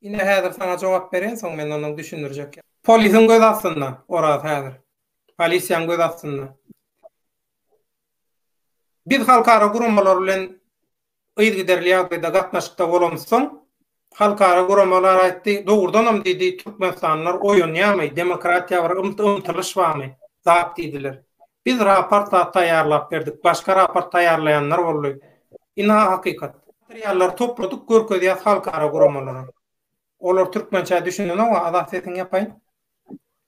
Ine häzir saňa jogap beren soň men ondan düşündirjek. Polisiň göz astynda Oraz häzir. Polisiýaň göz astynda. Biz halkara guramalar bilen yzgiderli ýagdaýda gatnaşykda bolamyz soň halkara guramalar aýtdy, dogrudanam diýdi, türkmenistanlylar oýanýamy, demokratiýa bir ymtylyş bamy, zat diýdiler. Biz raport zat taýýarlap berdik, başga raport taýýarlaýanlar boldy. Ina hakykat. Materiallary topladyk görkezýäs halkara guramalara. Olar türkmençä düşünenoga Azat sesiňi ýapaýyn.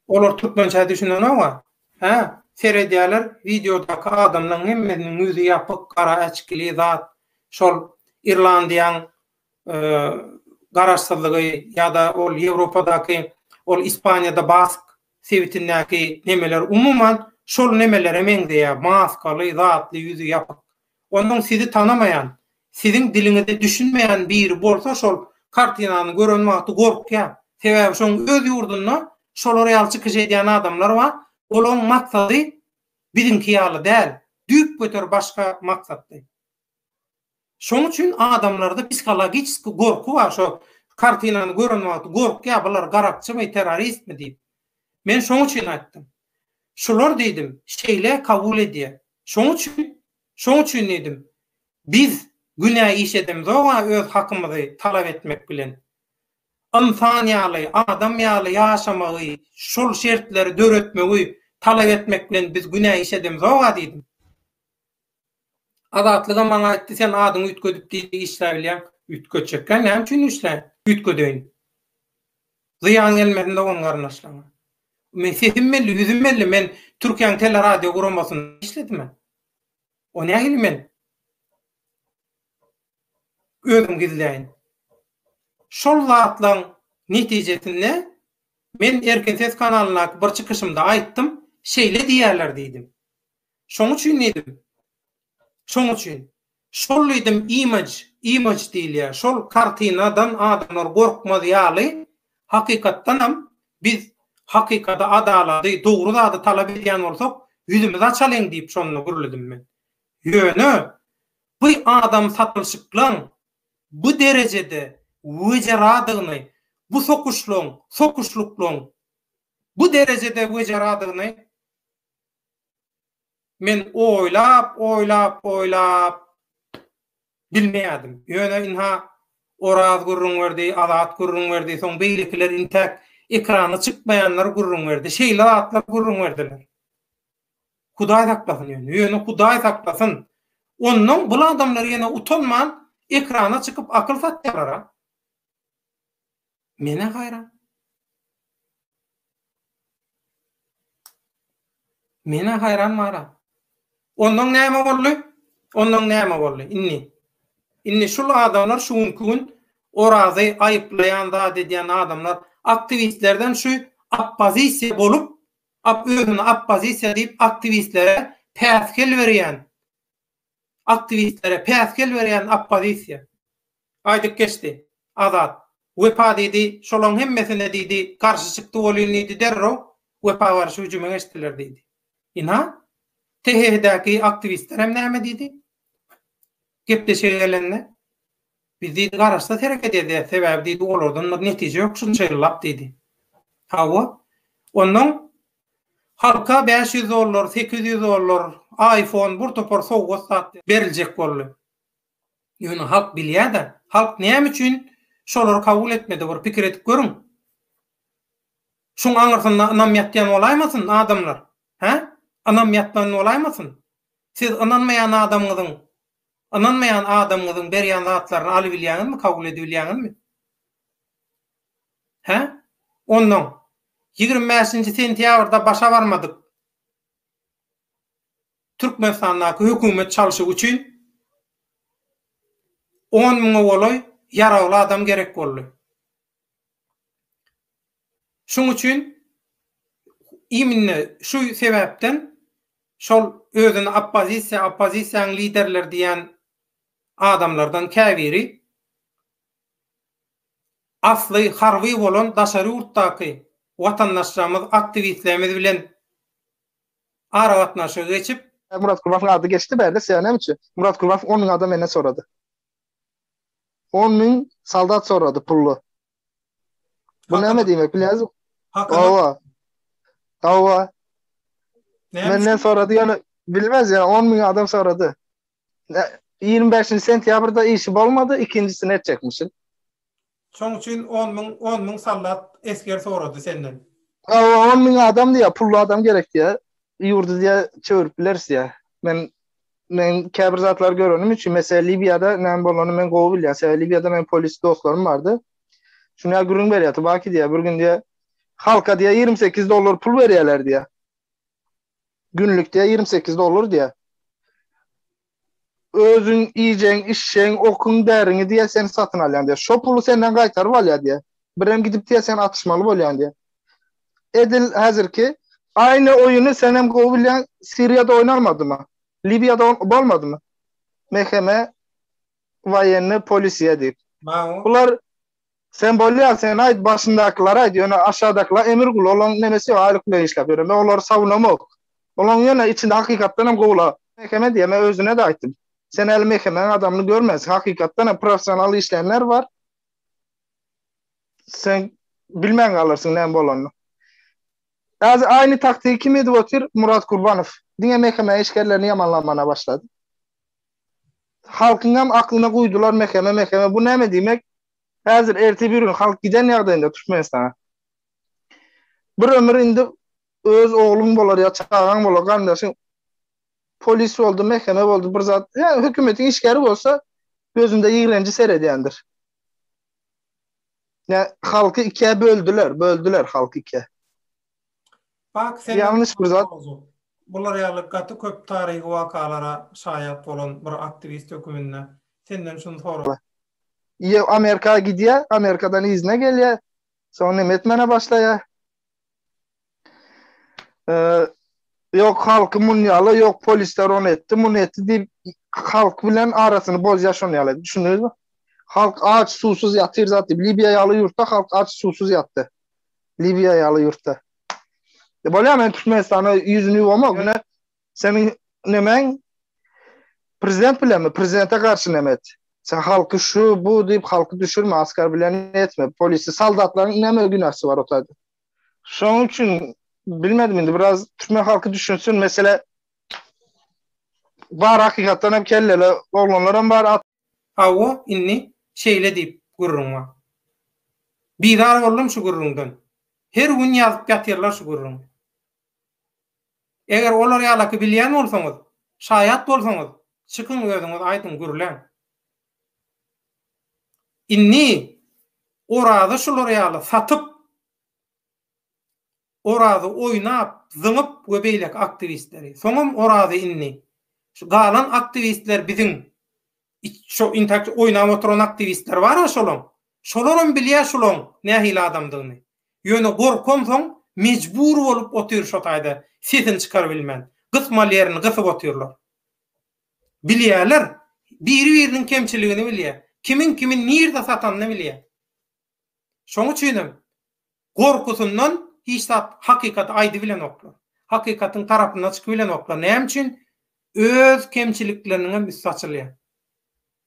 Olar türkmençä düşünenoga, hä, seredýäler wideodaky adamlaň hemmesiniň ýüzi ýapyk, gara äçkili zat, şol Irlandiýaň garaşsyzlygy ýa-da ol Ýewropadaky ol Ispaniýada Bask Sebitindäki nemeler umuman şol nemelere meňzeýär, maskaly, zatly, ýüzi ýapyk. Onuň sizi tanamaýan, siziň diliňize düşünmeýän biri bolsa şol kartinany gören wagty gorkýar. Sebäbi şoň öz ýurdunda şolar ýaly çykyş edýän adamlar bar, olaň maksady biziňki ýaly däl, düýpgöter başga maksatly. Şoň üçin adamlarda psihologiçeskiý gorky bar şo kartinany gören wagty gorkýar bular garakçymy terroristmi diýip. Men şoň üçin aýtdym. Şular diýdim şeýle kabul edýä. Şoň üçin şoň üçin diýdim biz günä iş edemzoga öz hakymyzy talap etmek bilen. Ynsan ýaly adam ýaly ýaşamagy şol şertleri döretmegi talap etmek bilen biz günä iş edemzoga diýdim. Azatlygam maňa aýtdy, sen adyňy üýtgedip diýip işläbilýäň. Üýtgetjekkä näme üçin işläýin? Üýtgedeýin. Zyýan gelmesin dogan-garyndaşlaryňa. Men sesim belli, ýüzüm belli, men Türkiýäň teleradioguramasiynda işledim. O nähili men özüm gizläýin? Şol zatlaryň netijesinde men Erkin ses kanalyndaky bir çykyşymda aýtdym, şeýle diýýärler diýdim. Şoň üçin diýdim. Şoň üçin. Şol diýdim imaj, imaj diýilýär. Şol kartinadan adamlar gorkmaz ýaly, hakykatdanam biz hakykady, adalaty, dogry zady talap edýän bolsak, ýüzümizi açalyň diýip şonda gürledim men. Ýöne bu adam satylşyklygyň bu derejede wejeradygyny, bu sokuşlygyň, sokuşlyklygyň bu derejede wejeradygyny Men oýlap, oýlap, oýlap bilmeýärdim. Ýöne ynha, Oraz gürrüň berdi, Azat gürrüň berdi, soň beýlekiler intäk ekrana çykmaýanlar gürrüň berdi. Şeýle zatlar gürrüň berdiler. Hudaý saklasyn ýöne. Ýöne Hudaý saklasyn. Onnoň bul adamlar ýene utanman ekrana çykyp akyl satýalar-a. Men-ä haýran. Men-ä haýran Mara. Onnoň näme boldy? Onnoň näme boldy? Indi. Indi şul adamlar şu günki gün Orazy aýyplaýan zat edýän adamlar aktiwistlerden şu oppozisiýa bolup, ap özüni oppozisiýa diýip aktiwistlere päsgel berýän, aktiwistlere päsgel berýän oppozisiýa. Aýdyp geçdi. Azat. Wepa diýdi, şolaň hemmesine diýdi, garşy çykdy welin diýdi derrew Wepa garşy hüjüme geçdiler diýdi. Ina? THH-däki aktiwistlerem näme diýdi? Gepleşige gelende. Biz diýdi garaşsyz hereket edýäs, sebäbi diýdi olardan bir netije ýok şunça ýyllap diýdi. Hawa. Ondan halka bäş ýüz dollar, sekiz ýüz dollar, aýfon, bir topar sowgat zat beriljek boldy. Ýöne halk bilýä-da, halk näme üçin şolary kabul etmedi bir pikir edip görüň. Şuň aňyrsynda ynam ýatýan bolaýmasyn, adamlar? Hä? Ynam ýatman bolaýmasyn? Siz ynanmaýan adamyňyzyň, ynanmaýan adamyňyzyň berýän zatlaryny alybilýäňizmi, kabul edibilýäňizmi? Hä? Onnoň, ýigrimi bäşinji sentýabrda başa barmadyk. Türkmenistandaky hökümet çalşygy üçin on müňe golaý ýaragly adam gerek boldy. Şuň üçin iminne şu sebäpden şol özüni oppozisiýa, oppozisiýanyň liderleri diýen adamlardan käbiri asly harby bolan daşary ýurtdaky watandaşlarymyz, aktiwistlerimiz bilen aragatnaşygy geçip. Murat Gurbasowyň ady geçdi bärde siýa näme üçin? Murat Gurbasow on müň adam menden sorady. On müň soldat sorady pully. Bu näme diýmek bilýäňizmi? Hawa. Hawa. Menden sorady ýöne bilmez ýa on müň adam sorady. Ýigrimi bäşinji sentýabrda işi bolmady, ikinjisini etjekmişin. Şoň üçin on müň, on müň soldat, esger sorady senden. Hawa, on müň adam diýýär, pully adam gerek diýýär. Ýurdy diýýär, çöwrüp bileris diýýär. Men, men käbir zatlary görenim üçin, meselem, Liwiýada näme bolanyny men gowy bilýän. Sebäbi Liwiýada meniň polis dostlarym bardy. Şuny ýa gürrüň berýär, Tubaki diýýär, bir gün diýýär, halka diýýär, ýigrimi sekiz dollar pul berýärler diýýär. Günlik diýýär, ýigrimi sekiz dollar diýýär. Özüň iýjegiň, içjegiň, okuň, däriňi diýýär, sen satyn alýaň diýýär. Şo puly senden gaýtaryp alýar diýýär. Birem gidip diýýär, sen atyşmaly bolýaň diýýär. Edil häzirki aýny oýuny senem gowy bilýäň, Siriýada oýnalmadymy? Liwiýada bolmadymy? Meheme, woýenni, polisiýa diýip. Bular Sen bolýa sen aýt başyndakylara aýt ýöne aşadakylar emir gul olaň nemesi ýok aýlyk bilen işläp ýören men olary sawunamok olaň ýöne içinde hakykatdan hem gowular mekeme diýen men özüne de aýtdym sen häli mekemäň adamyny görmänsiň hakykatdan hem professional işleýänler bar sen bilmän galarsyň näme bolanyny häzir aýny taktigy kim edip otyr Murat Gurbanow diňe mekeme işgerlerini ýamanlamana başlady Halkyňam aklyna guýdular mekeme mekeme bu näme diýmek häzir ertir bir gün halk giden ýagdaýynda Türkmenistana bir ömür indi öz ogluň bolar ýa çagaň bolar garyndaşyň polis boldy mekeme boldy bir zat ýa hökümetiň işgäri bolsa gözünde ýigrenji seredýändir. Ýa halky ikä böldüler böldüler halky ikä. Bak sen Ýalňyş bir zat. Bular ýaly gaty köp taryhy wakalara şaýat bolan bir aktiwist höküminde senden şuny sorap. Ýe Amerika gidýä, Amerikadan yzyna gelýä. Soň näme etmäne başlaýa? Eee Ýok halky muny ýala, ýok polisler ony etdi, muny etdi diýip halk bilen arasyny bozýa şony ýala. Düşündiňizmi? Halk aç, suwsuz ýatyr zat diýip. Libiýa ýaly ýurtda halk aç, suwsuz ýatdy. Liwiýa ýaly ýurtda. E bolýa men Türkmenistana ýüzüni ýuwamok. Ýöne seniň nemäň prezident bilenmi? Prezidente garşy näme et? Sen halky şu bu diýip halky düşürme, askar bilen etme. Polisi, soldatlaryň näme günäsi bar o taýda? Şonuň üçin bilmedim indi biraz türkmen halky düşünsin. Mesele bar hakykatdan hem kelleli oglanlar hem bar. Hawa, indi şeýle diýip gürrüň bar. Bizar boldum şu gürrüňden. Her gün ýazyp ýatyrlar şu gürrüňi. Eger olar ýalaky bilýän bolsaňyz, şaýat bolsaňyz, çykyň özüňiz aýdyň, gürläň. Indi Orazy şular ýaly satyp, Orazy oýnap, zyňyp we beýleki aktiwistleri. Soňam Orazy indi, Şu galan aktiwistler biziň şo intak oýnap oturan aktiwistler bar-a şolaň. Şolaram bilýä şolaň nähili adamdygyny. Ýöne gorkam soň mejbur bolup otyr şo taýda sesini çykarybilmän. Gysmaly ýerini gysyp otyrlar. Bilýäler. Biri-biriniň kemçiligini bilýä. Kimiň kimi nirde satanyny bilýä. Şoň üçin hem gorkusyndan hiç zat hakykaty aýdybilenoklar. Hakykatyň tarapyna çykybilenoklar. Näme üçin? Öz kemçilikleriniň hem üsti açylýar.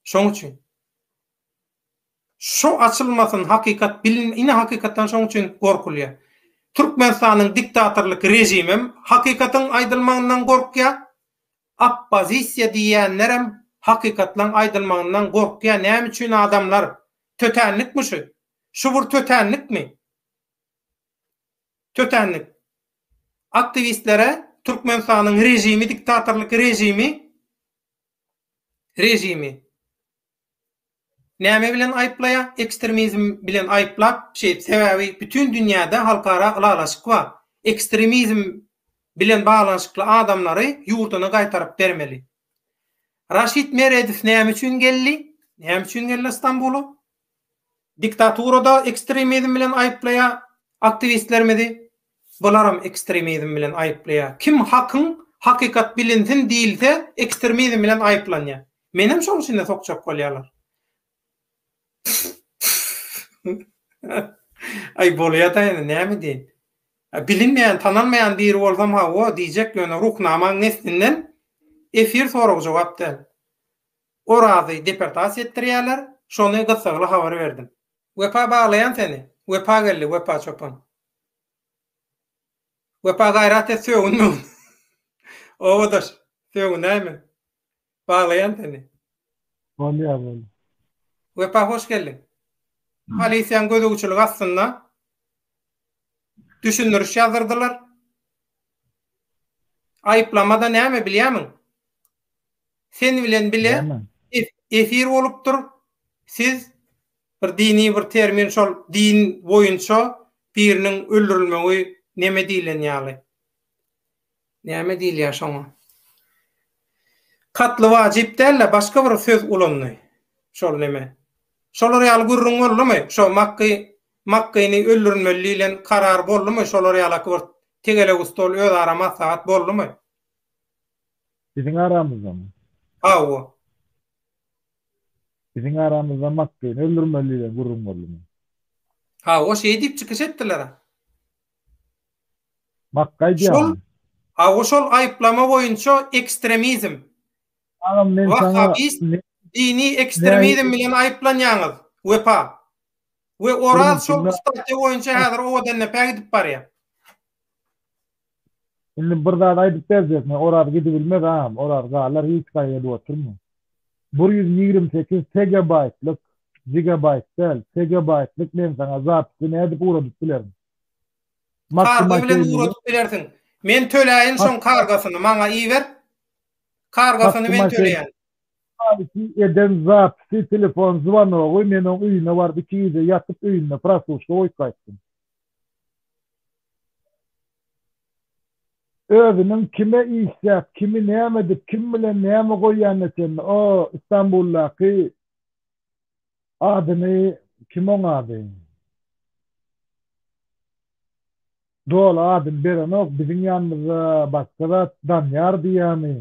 Şoň üçin. Şu açylmasyn hakykat bilin ine hakykatdan şoň üçin gorkulýar. Türkmenistanyň diktatorlyk režimi hem hakykatyň aýdylmagyndan gorkýar. Oppozisiýa diýýänler hem hakykatlaň aýdylmagyndan gorkýar. Näme üçin adamlar Tötänlikmi şu? Şu bir tötänlikmi? Tötänlik. Aktiwistlere Türkmenistanyň režimi, diktatorlyk režimi, režimi näme bilen aýyplaýar? Ekstremizm bilen aýyplap, şeýdip, sebäbi bütin dünýäde halkara ylalaşyk bar. Ekstremizm bilen baglanyşykly adamlary ýurduna gaýtaryp bermeli. Raşid Meredow näme üçin geldi? Näme üçin geldi Stambula? Diktaturada ekstremizm bilen aýyplaýar aktiwistlerimizi. Bularam ekstremizm bilen aýyplaýar. Kim hakyň hakykat bilinsin diýilse ekstremizm bilen aýyplanýar. Menem şoň içinde sokjak bolýarlar. Aý, bolýa-da indi, näme edeýin. Bilinmeýän, tanalmaýan biri bolsam hawa, diýjek, ýöne Ruhnamaň neslinden efir soragy jogap däl. Orazy deportasiýa etdirýärler, şony gyssagly habar berdim. Wepa baglaýan seni. Wepa geldi, Wepa çopan. Wepa gaýrat et sögün-mögün. Obadaş, sögünäýme. Baglaýan seni. Bolýar bolýar. Wepa hoş geldiň. Polisiýaň gözegçiligi astynda düşündiriş ýazdyrdylar. Aýyplama-da näme bilýämiň? Sen bilen bile efir bolupdyr. Siz bir dini bir termin şol din boýunça biriniň öldürilmegi neme diýlen ýaly. Näme diýilýär şoňa? Katly wajyp däl-de, başga bir söz ulandy. Şol näme? Şolar ýaly gürrüň boldumy? Şo Makgy, Makgyny öldürilmeli diýlen karar boldumy? Şolar ýalaky bir tegelek stol, özara maslahat boldumy? Biziň aramyzdamy? Hawa. Biziň aramyzda Makgyny öldürmeli diýlen gürrüň boldumy? Hawa, şeý diýip çykyş etdiler-ä. Bak gaýdýan. Aw şol aýyplama boýunça ekstremizm. Agam men saňa. Wahabist dini ekstremizm bilen aýyplanýaňyz Wepa. We Oraz şol statýa boýunça häzir owadan depä gidip barýa. Indi bir zat aýdyp berjekmi? Oraz gidibilmez agam, Oraz galar hiç gaýa gelip oturma. Bir ýüz ýigrimi sekiz tegebaýtlyk, jigabaýt däl, tegebaýtlyk men saňa zapisi nädip ugradyp bilerin? Karga bilen ugradyp bilersiň. Men töläýin şoň kargasyny maňa iber. Kargasyny men töleýän. Haýsy eden zapisi telefon zwanogy men oň öýüne baryp iki gije ýatyp öýünde prasluçka goýup gaýtdym. Özüniň kime işläp, kimi näme edip, kim bilen näme goýýanyna çenli, o, Istanbuldaky adyny, kim oň ady? Doly adyny berenok, biziň ýanymyzda başga zat, Danýar diýýärmi,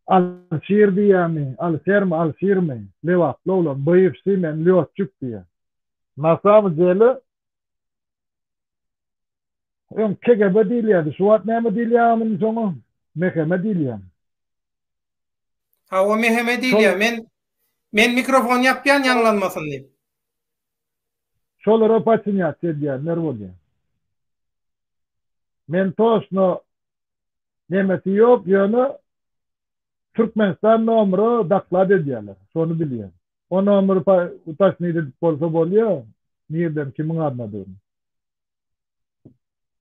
Alşir diýýärmi, Alişermi, Alşirmi, lebaply oglan, bywşşy, men lýotçik diýýär. Na samym dele, Öň kegebe diýilýärdi. Şu wagt näme diýilýär muny soňa? Meheme diýilýär. Hawa meheme diýilýär. Men men mikrofony ýapýan ýaňlanmasyn diýip. Şolara paçinýat edýänler bolýar. Men toşno nemesi ýok ýöne Türkmenistan nomera doklad edýärler. Şony bilýän. O nomeri pa utosnit edip bolsa bolýa, nirden kimiň adynadygyny.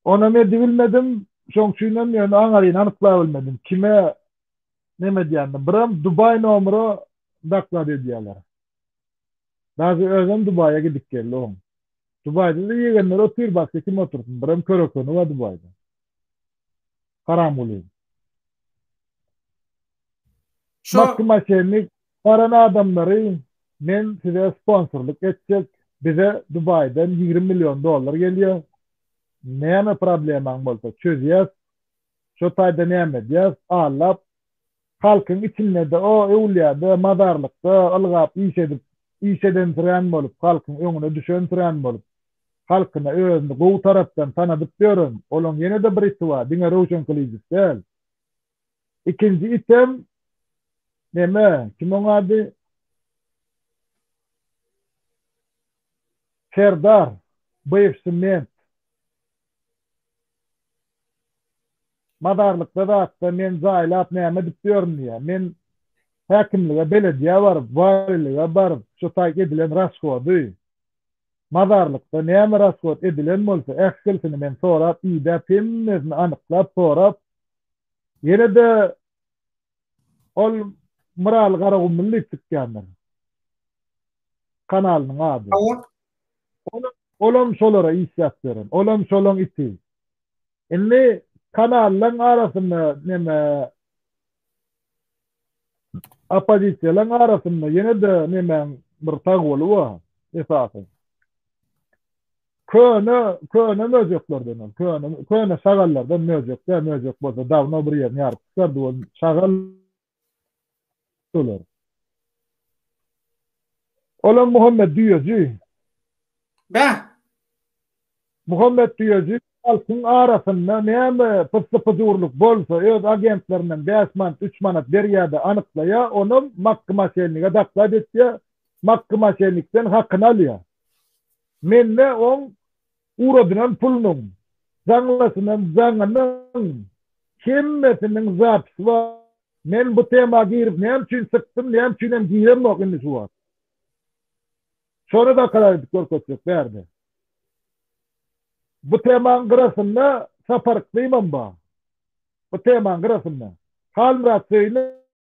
Onam edibilmedim, şoň üçinem ýöne aňaryny anyklabilmedim. Kime neme edýänini. Biram Dubaý nomera doklad edýärler. Daže özem Dubaýa gidip geldi oň. Dubaýda-da ýegenleri otyr, başga kim otursyn. Biram köre-köni bar Dubaýda. Haramguly. Şo Maksim Aşennik baran adamlary men size sponsorlyk etjek bize Dubaýdan ýigrimi million dollar gelýär näme problemaň bolsa çözýäs şo taýda näme edýäs allap Halkyň içinde-de, o öwlýäde, mazarlykda ylgap iş edip, iş edensirän bolup, halkyň öňüne düşensirän bolup, halkyna özüni gowy tarapdan tanadyp ýören, olaň ýene-de bir iti bar, diňe Röwşen Kylyjow däl. Ikinji item, neme, kim oň ady? Serdar, bywşy ment. Bazarlykda zatda men jaýlap näme edip ýörün diýýär. Men häkimlige, belediýä baryp, walilige baryp, şu taý edilen rashody, bazarlykda näme rashod edilen bolsa, ählisini men sorap, idäp, hemmesini anyklap, sorap, ýene-de Ol Myraly Garagumly diýip çykýandyr. Kanalynyň ady. Howp. Ol, olam şolara işläp beren. Olam şolaň iti. Indi kanallaň arasynda neme oppozisiýalaň arasynda ýene-de nemäň bir sagboly bar esasy. Köne, köne möjeklerden ol, köne, köne şagallardan möjek-dä, möjek bolsa dawno bir ýerini ýaryp çykardy, ol şagal olar. Olam Muhammet düýeji. Bä. Muhammet düýeji halkyň arasynda näme pyssy-pyjurlyk bolsa, öz agentlerinden bäş manat, üç manat berýär-de anyklaýar, onam Makgy maşenniga doklad etýär, Makgy maşennikden hakyny alýar. Mende oň uradynam pulunyň, jaňlasynam, jaňynyň hemmesiniň zapisy bar. Men bu tema girip näme üçin çykdym, näme üçinem giremok indi şu wagt. Şony dokalar edip görkezsek bärde. Bu temaň gyrasynda Sapar Yklymam bar. Bu temaň gyrasynda. Halmyrat Söýünow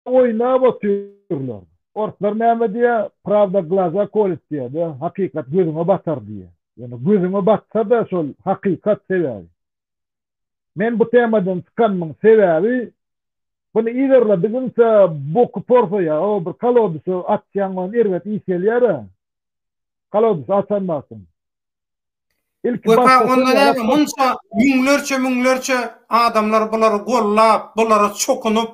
Oýnap otyrlar. Orslar näme diýýär? Prawda glaza kolýt diýýär-de, hakykat gözüňe batar diýýär. Ýöne gözüňe batsa-da şol hakykat sebäbi. Men bu temadan çykanymyň sebäbi, buny yzarladygyňça boky porsaýar, o bir kolodusy açýaň, ony erbet iýip gelýär-ä. Kolodusy açan wagtyň. Wepa onda näme, munça müňlerçe-müňlerçe adamlar bulary gollap, bulara çokunyp,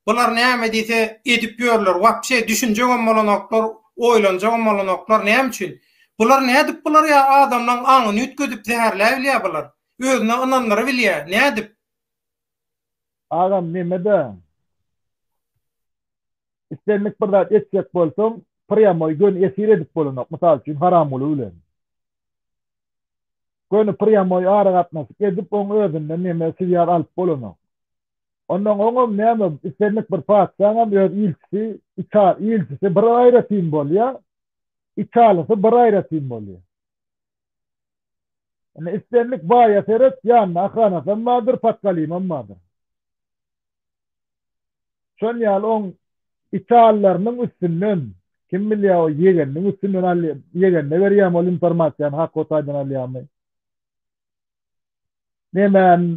bular näme diýse edip ýörler, wapşe düşünjegem bolanoklar, oýlanjagam bolanoklar, näme üçin? Bular nädip bular ýa adamlaň aňyny üýtgedip zäherläbilýä bular? Özüne ynandyrybilýä, nädip? Agam neme-de? Islendik bir zat etjek bolsaň, prýamoý göni efir edip bolanok, mysal üçin, Haramguly bilen. Göni prýamoý aragatnaşyk edip, oň özünden neme siýar alyp bolanok. Onnoň oňam näme, islendik bir patyşaňam öz ilçisi, iki ilçisi bir aýratyn bolýar, iki alysy bir aýratyn bolýar. Indi islendik baýa seret, ýanynda ahanasam bardyr, patgalymam bardyr. Şol ýaly oň itallarynyň üstünden, kim bilýär o ýegeniniň üstünden alýa, ýegende berýämi ol informasiýany Hako taýdan alýamy. Nemäň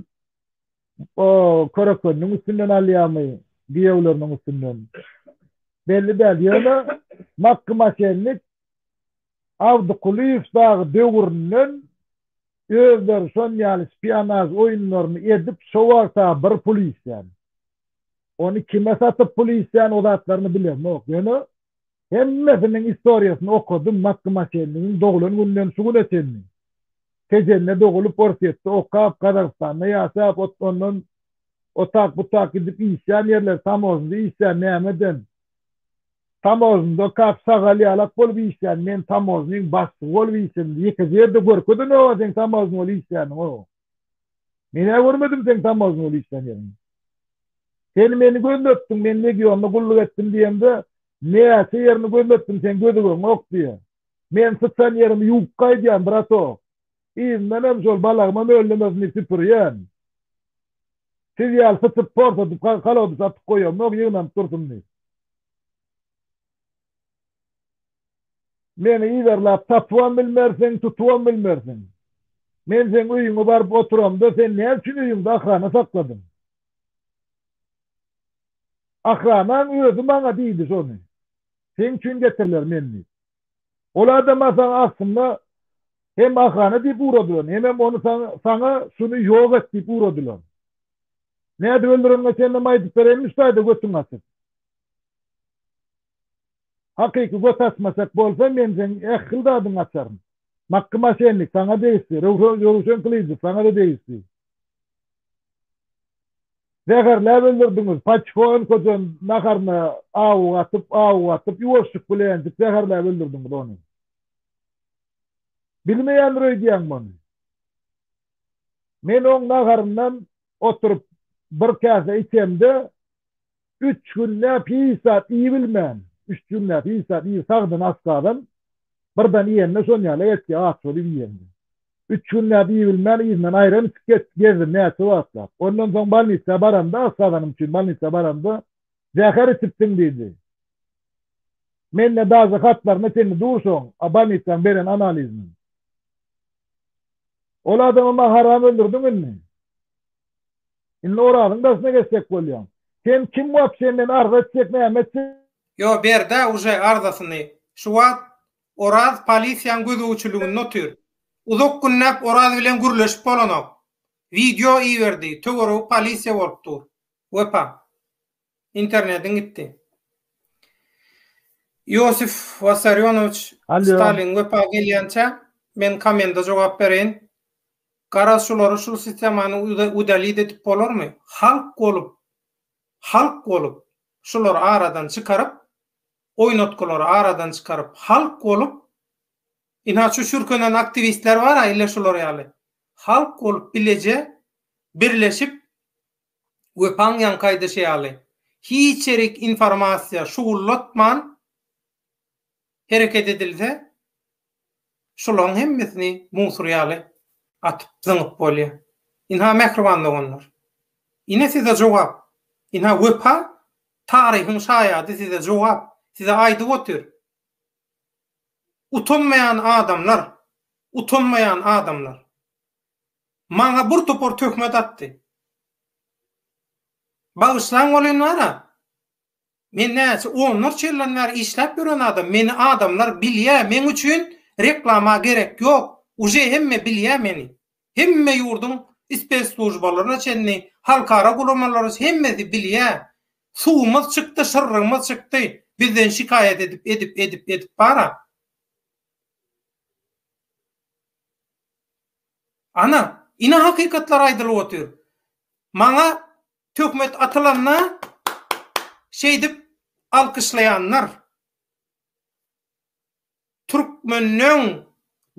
o körekeniniň üstünden alýamy, giýewleriniň üstünden. Belli däl, ýöne Makky maşennik Abdykulyýew dagy döwründen özleri şon ýaly spionaž oýunlaryny edip şo wagta bir pul iýsän. Ony kime satyp pul iýsän o zatlaryny bilemok ýöne hemmesiniň istoriýasyny okadym Makgmaçennigiň doglan günden şu güne çenli. Tejende dogulyp Orsýetde okap Gazagystanda ýaşap ot ondan otak butak gidip iýsän ýerler tamožnda iýsän nämeden Tamozny dokap sagal ýalak bolup işlän men tamoznyň bassygy bolup işledim ýekeje ýerde görkeze noga seň tamozny bolup işländiňo menä görmedim seň tamozny bolup işlän ýeriňi sen meni gözletdiň men legionda gulluk etdim diýemde näçe ýerini gözletdim seň gözügeňok diýä men syçan ýerimi ýuwup gaýdýan bratok yzyndan hem şol balagyma möllemesini süpürýän siz ýaly syçyp porsadyp kalody satyp goýamok ýygnanyp dursun diýip. Meni yzarlap tapybam bilmersiň, tutubam bilmersiň. Men seň öýüňe baryp oturamda, sen näme üçin öýüňde ahrana sakladyň? Ahranaň özi maňa diýdi şony. Seň üçin getiriler men diýip. Ol adama saňa aslynda hem ahana diýip ugradylan, hemem ony saňa şuny ýok et diýip ugradylan. Nädip öldüreniňe çenlem aýdyp bereýinmişdaýda götüň açyk. Hakyky göt açmaçak bolsa men seň ähli zadyňy açaryn. Makky maşennik saňa degişli, Röwşen gylyjy saňa-da degişli. Zäherläp öldürdiňiz, Paçko öňküden naharyna awuk atyp, awuk atyp, ýuwaşjyk bilenjik zäherläp öldürdiňiz ony. Bilmeýändir öýdýäň muny. Men oň naharyndan oturyp bir käse içemde, üç günläp hiç zat iýibilmän, üç günläp hiç zat iýip sagdyn az-kazam, birden iýende şon ýaly etýär aç bolup iýende. Üç günläp iýibilmän yzyndan aýran içip get, gezdim näçe wagtlap. Ondan soň bolnisä baramda, aç gazanym üçin bolnisä baramda, Zäher içipsiň diýdi. Mende daže hatlaryna çenli dur şoň, a bolnisaň beren analiziniň. Ol adamy maňa haram öldürdiň indi. Indi Orazyň daşyna geçjek bolýaň. Sen kim wapşe men arza etjek näme etjek. Ýo berdä uje arzasyny. Şu wagt Oraz polisiýaň gözegçiliginde otyr. Uzak günläp Oraz bilen gürleşip bolanok. Wideo iberdi, töweregi polisiýa bolup dur. Wepa. Internetiň gitdi. Iosif Wassarýonowiç Stalin wepa gelýänçä, men kommenta jogap bereýin. Garaz şulary şu sistemany udalit edip bolarmy? Halk bolup, halk bolup, şulary aradan çykaryp, oýnatgylary aradan çykaryp halk bolup ina şu çürkenen aktiwistler bara ille şular ýaly halk bolup bileje birleşip Wepaň ýaňky aýdyşy ýaly hiç ýerik informasiýa şugullatman hereket edilse Şolaryň hemmesini musur ýaly atyp, zyňyp bolýar. Ynha, mähriban doganlar, ine size jogap. Ynha, wepa, taryhyň şaýady size jogap, size aýdyp otyr. Utanmaýan adamlar, utanmaýan adamlar. Maňa bir topar töhmet atdy. Bagyşlaň welin, wara, Men näçe onlarça ýyldan bäri işläp ýören adam, meni adamlar bilýä meň üçin reklama gerek ýok, uje hemme bilýä meni. Hemme ýurduň spesslujbalaryna çenli, halkara guramalary hemmesi bilýä. Suwumyz çykdy şyrrygymyz çykdy, bizden şikaýat edip edip edip edip bara. Ana, ine hakykatlary aýdylyp otyr. Maňa Töhmet atylanda şeýdip alkyşlaýanlar türkmeniň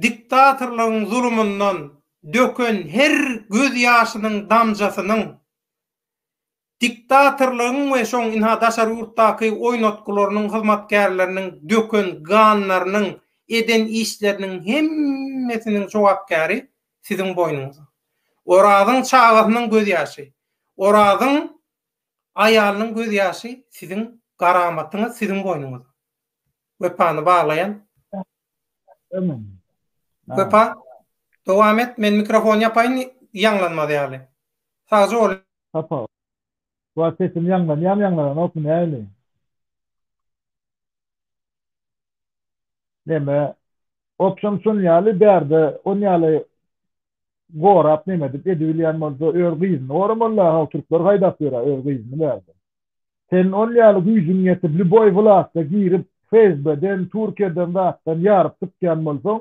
diktatorlygyň zulumyndan döken her göz ýaşynyň damjasynyň, diktatorlygyň we şoň ynha daşary ýurtdaky oýnatgylarynyň hyzmatkärleriniň döken ganlarynyň, eden işleriniň hemmesiniň jogapkäri siziň boýnuňyza. Orazyň çagasynyň gözýaşy, Orazyň aýalynyň gözýaşy siziň garamatyňyz, siziň boýnuňyza. Wepany baglaýan. Wepa, dowam et, men mikrofony ýapaýyn, ýaňlanmaz ýaly. Sagja bol. Wah sesim ýaňlanýamy ýaňlananokmy näli. Neme Opşam şon ýaly bärde on ýaly gorap neme edip edi bilýän bolsa ör gyzyny goramalyda how türkler haýdap ýörä ör gyzyny bärde. Sen on ýaly güýjüň ýetip lýuboý wlatda girip FSB-den Türkiýeden zatdan ýaryp çykýan bolsaň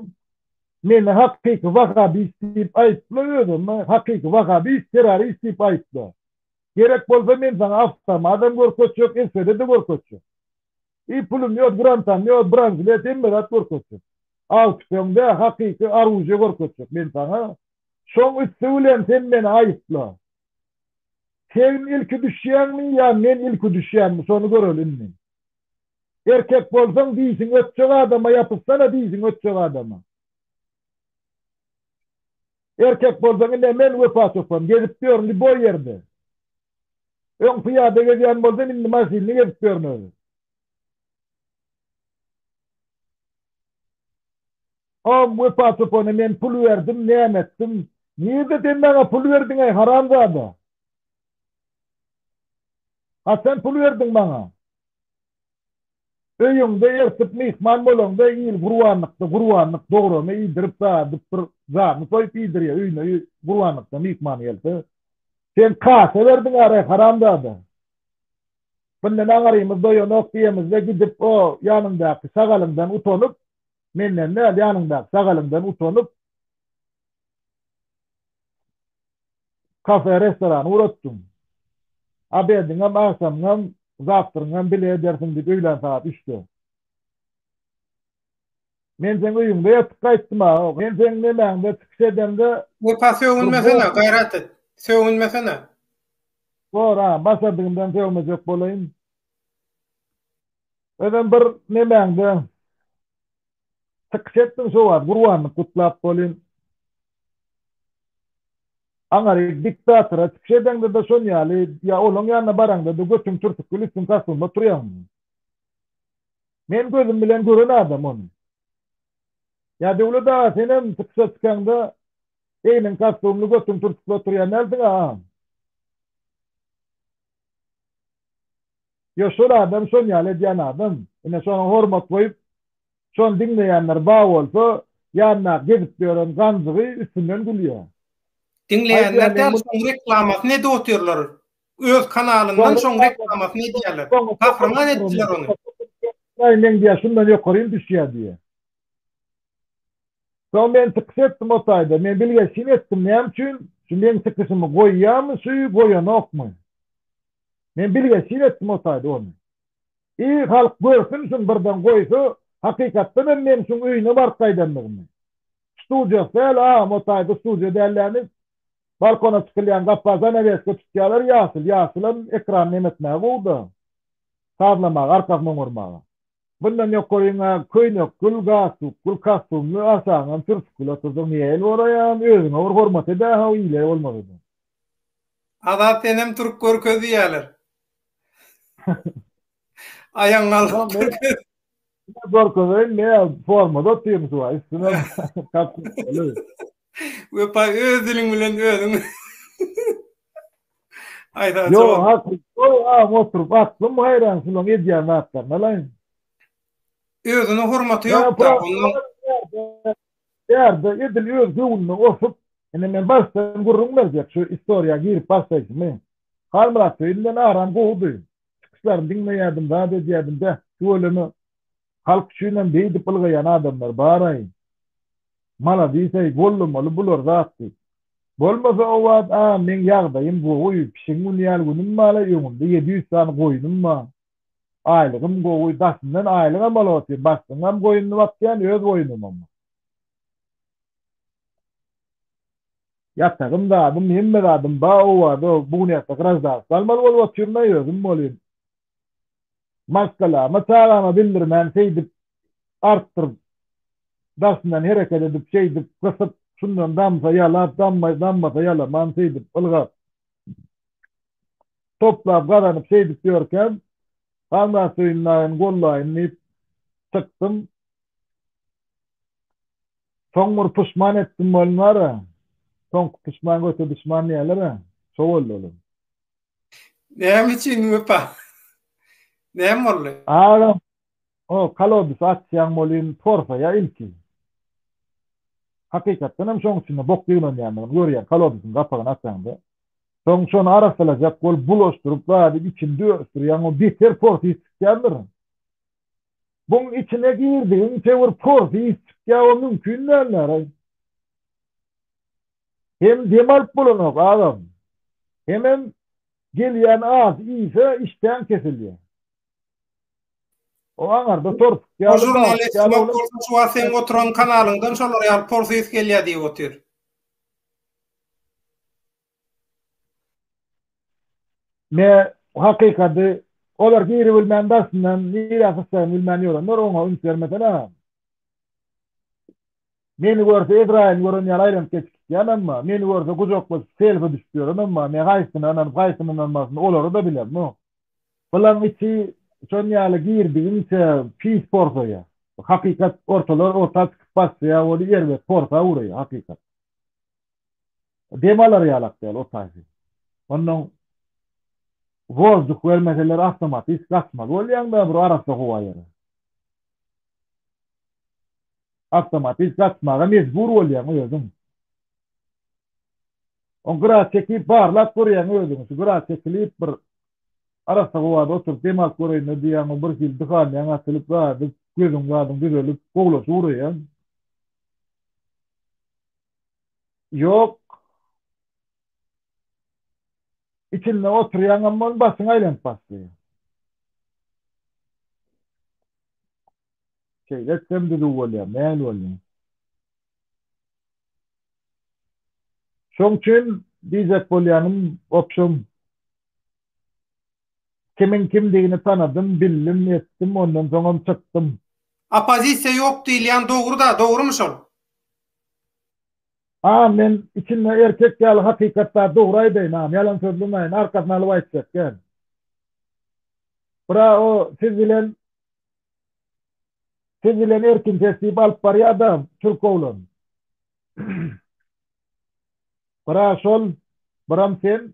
Meni hakyky wahabist diýip aýypla özümi hakyky wahabist terrorist diýip aýypla. Gerek bolsa men saňa awtomadam görkezjek eswd-de görkezjek. I pulum ýok grantam ýok branzlet hemme zat görkezjek. Aw tüpeňde hakyky aruje görkezjek men saňa. Şoň üsti bilen sen meni aýypla. Segn ilki düşýäňmi ýa men ilki düşýäňmi şony göreli indi. Erkek bolsaň dişiň ötjek adama ýapyşsana dişiň ötjek adama. Erkek bolsaň ine men wepa çopan gezip ýörün liboý ýerde. Öň pyýada gezýän bolsam indi maşynly gezip ýörün özüm. Hom wepa çopana men pul berdim näme etdim. Nirde sen maňa pul berdiňeý haramzada. A sen pul berdiň maňa. Öýüňde ertir myhman bolaňda il gurbanlykda gurbanlyk dograma iýdirip daýadyp bir janyny soýup iýdirýär öýüne gurbanlykda myhman gelse. Sen kasa berdiň aýry haramzada. Bundan aňyrymyz doýanok diýemizde gidip o ýanyňdaky şagalyňdan utanyp menden däl ýanyňdaky şagalyňdan utanyp kafe, restoran ugradypdyň. Obediňem, agşamyňam, zawtryňam bile edersiň diýip öýlän sagat üçde. Men seň öýüňde ýatyp gaýtdym-a. Men seň nemäňde çykyş edeňde. Wepa sögünmesene, gaýrat et. Sögünmesene. Bor-a, başardygymdan sögmejek bolaýyn. Özem bir nemäňde. Çykyş etdiň şo wagt gurbanlyk gutlap bolyn. Aňary diktatora çykyş edeňdede şon ýaly ýa olaň ýanyna baraňdada götüň türtükli üstüň kastynda turýaňmy? Men gözüm bilen gören adam ony. Ýa Döwlet aga senem çykyşa çykaňda egniň kastumly götüň türtükli oturýan dälsiň a? Ýa şol adam şon ýaly edýän adam. Ine şoňa hormat goýup, şony diňleýänler bar bolsa, ýanyndaky gezip ýören ganjygy üstünden gülýä. Diňleýänler däl şoň reklamasyny edip otyrlar. Öz kanalyndan şoň reklamasyny edýärler. Gahryman etdiler ony. Meň diýä şundan ýokarym düşýä diýä. Soň men çykyş etdim o taýda. Men bilgeşin etdim, näme üçin şu meň çykyşymy goýýamy şu goýanokmy? Men bilgeşin etdim o taýda ony. I halk görsün şuny birden goýsa, hakykatdan hem men şuň öýüne baryp gaýdandygymy. Studiýasy däl agam o taýda studiýa däl näme balkona çykylýan gapa zanaweska tutýalar ýaşyl, ýaşyl hem ekran näme etmäge gowy-da. Sazlamaga, arkasyny oňarmaga. Mundan ýokaryň-a Köýnekgül, Gassukgül, Kassumly, Aşaňam Sürsükgül otursaň niýe el boraýaň, özüňe bir hormat ede-how ile bolmaz eden. Azat senem turk görkez diýýäler. Aýagyň aldyny görkez. Ine görkezeýin ne formada otyryn şu wagt üstümem kapşyr dolu. Wepa öz diliň bilen özüň. Aýda Ýo, jogap. hakly. Ýo, aň oturyp aklym haýran şulaň edýän zatlaryna laýyn. Özüne hormaty Ýa, ýok-da, Pyragy ondan bar ýerde, ýerde edil öz göwnüne osup, indi men başdan gürrüň berjek, şu istoriýa girip başlaýşymy. Halmyrat söýünden aram gowudy. Çykyşlaryny diňleýärdim, zat edýärdim, beh, tüweleme. Halk üçinem beýdip ylgaýan adamlar baraý. Maladisaý bollamaly bular zat diýip. Bolmasa owad a meň ýagdaýym gowy pişiň güni ýaly günüm bala öňümde ýedi ýüz sany goýnum ba. Aýlygym gowy daşyndan aýlygam alyp otyryn başlygyňam goýnuny bakýan öz goýnumam bar. Ýatagym zadym hemme zadym ba owada bu gün ertir graždanstwo almaly bolup otyryn a özüm bolyn. Maşgalama, çagama bildirmän şeýdip, artdyryp, daşyndan hereket edip, şeýdip, gysyp, şundan damsa ýalap, damma, dammasa ýalaman, şeýdip, ylgap, toplap, gazanyp, şeýdip ýörkäm, Halmyratsöýün daýyny gollaýyn diýip çykdym. Soň bir puşman etdim bolmar-a. Soňky puşman göte duşman diýerler-ä, şo boldy olam. Näme üçin wepa? Näme boldy? Agam, o kolodus açýaň welin porsaýa ilki. Hakykatdan hem şoň içinde bok ýygnanýandygyny görýär, kolodusyň gapagyny açaňda. Soň şony arassalajak bolup bulaşdyryp zady içinde örüsdirýäň o beter pors ýygy çykýandyr. Buň içine girdigiňçe bir pors ýygy çykýar o mümkin dälläraý. Hem dem alyp bolanok agam. Hemem gelýän az iýse işdäň kesilýär. O aňarda torsuk ýaly bar. O žurnalist kim bolsa şu wagt seň oturan kanalyňdan şolar ýaly por ses gelýär diýip otyr. Me hakykady olar giribilmän daşyndan nirä syçjagyny bilmän ýörenler oňa üns bermesene. Meni görse Ezraýyl gören ýaly aýlanyp geçip gitýän emma, meni görse gujaklaşyp selfie düşüp ýören emma, me haýsysyna ynanyp haýsysyna ynanmasyn olary da bilen no. Bulaň içi şon ýaly girdigiňçe pis porsaýa. Hakykat ortalar orta çykyp başlaýa ol erbet porsa uraýa hakykat. Dem alar ýalak däl o taýsy. Onnoň wozduh bermeseler awtomatis gaçmaly bolýaň da bir arassa howa ýere. Awtomobil satmaga mejbur bolýaň özüň. Oň gyra çekip barlap görýäň özüňi. Şu gyra çekilip bir arassa howada oturyp dem alyp göreýin-le diýýäň, bir hili dyhanýaň açylyp, zady, gözüň zadyň düzelip, gowulaşyp uraýaň. Ýok. Içinde oturýaňam boluň, başyň aýlanyp başlaýar. Şeýle etsem düzüw bolýar, näl bolýar? Şoň üçin diýjek bolýanym, wobşem, kimiň kimdigini tanadym, bildim, etdim, ondan soňam çykdym. Oppozisiýa ýok diýilýän dogry-da, dogrymy şol? A, men içinde erkek ýaly hakykat bar, dogry aýdaýyn, a, ýalan sözlemäýin, arkasyny alyp aýtjak däl. Bra-o, siz bilen Siz bilen erkin tesdip alyp barýada türk oglan. Bira şol, biram sen.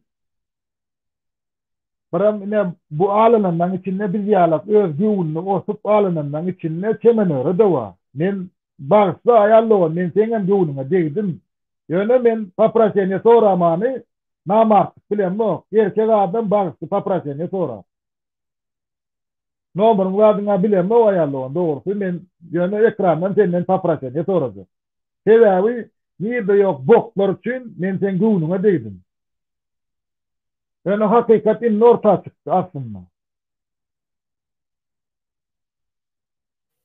Biram ine bu alynanlaň içinde biz ýalak öz göwnüni osup alynanlaň içinde çemenöre-de bar. Men bagyşla aýal dogan men seňem göwnüňe degdim. Ýöne men poproseniýe soramany namartlyk bilemok. Erkek adam bagyşly poproseniýe sorar. Nomeryň zadyňa bilemok aýal dogan dogrusy men ýöne ekrandan senden popraseniýe sorajak. Sebäbi nirde ýok botlar üçin men seň göwnüňe degdim. Ýöne hakykat indi orta çykdy aslynda.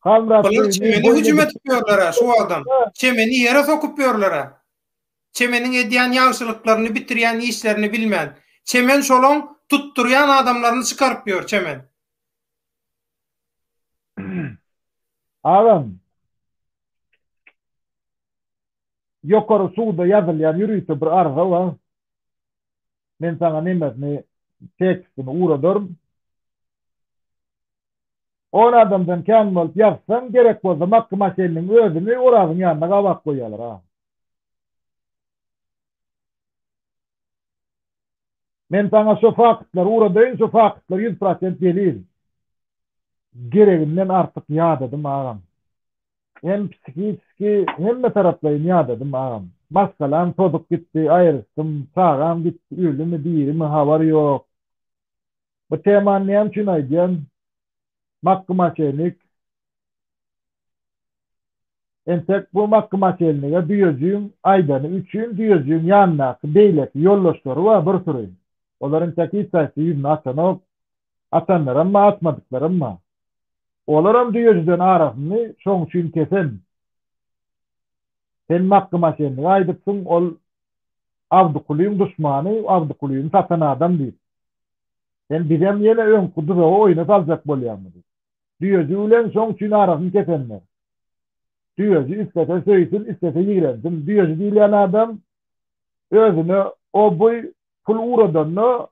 Halmyrat Bular çemeni hüjüm edip ýörler-ä şu wagtam. Çemeni ýere sokup ýörler-ä. Çemeniň edýän ýagşylyklaryny bitirýän işlerini bilmän. Çemen şolaň tutdurýan adamlaryny çykaryp ýör, Çemen. Agam. Ýokary suwda ýazylýan ýörite bir arza bar. Men saňa nemesini tekstini uradaryn. On adamdan kän bolup ýazsaň gerek bolsa Makky Maşeniniň özüni Orazyň ýanyna gabap goýýarlar agam. Men saňa şo faktlary uradaýyn şo faktlar ýüz prosent delil. Gereginden artyk ýadadym agam. Hem psihiçki hemme taraplaýyn ýadadym agam. Maşgalam tozup gitdi aýryşdym. Çagam gitdi ölümi dirimi habar ýok. Bu temany näme üçin aýdýan? Makky maşenik. Entek bu makgymatelnige düýejigiň aýdany üçin düýejigiň ýanyndaky beýleki ýoldaşlary bar bir süri. Olar entek hiç haýsy ýüzüni açanok. Açanlaram bar, açmadyklaram bar. Olaram düýejiden arasyny şoň üçin kesen. Sen makgymatelnige aýdypsyň, ol Abdykulyň duşmany, Abdykulyny satan adam diýip. Sen bizem ýene öňki duzagy oýuna saljak bolýaňmy diýip. Düýeji bilen şoň üçin arasyny kesenler. Düýeji islese söýsün, islese ýigrensin. Düýeji diýilýän adam özüne obuý pul ugradanda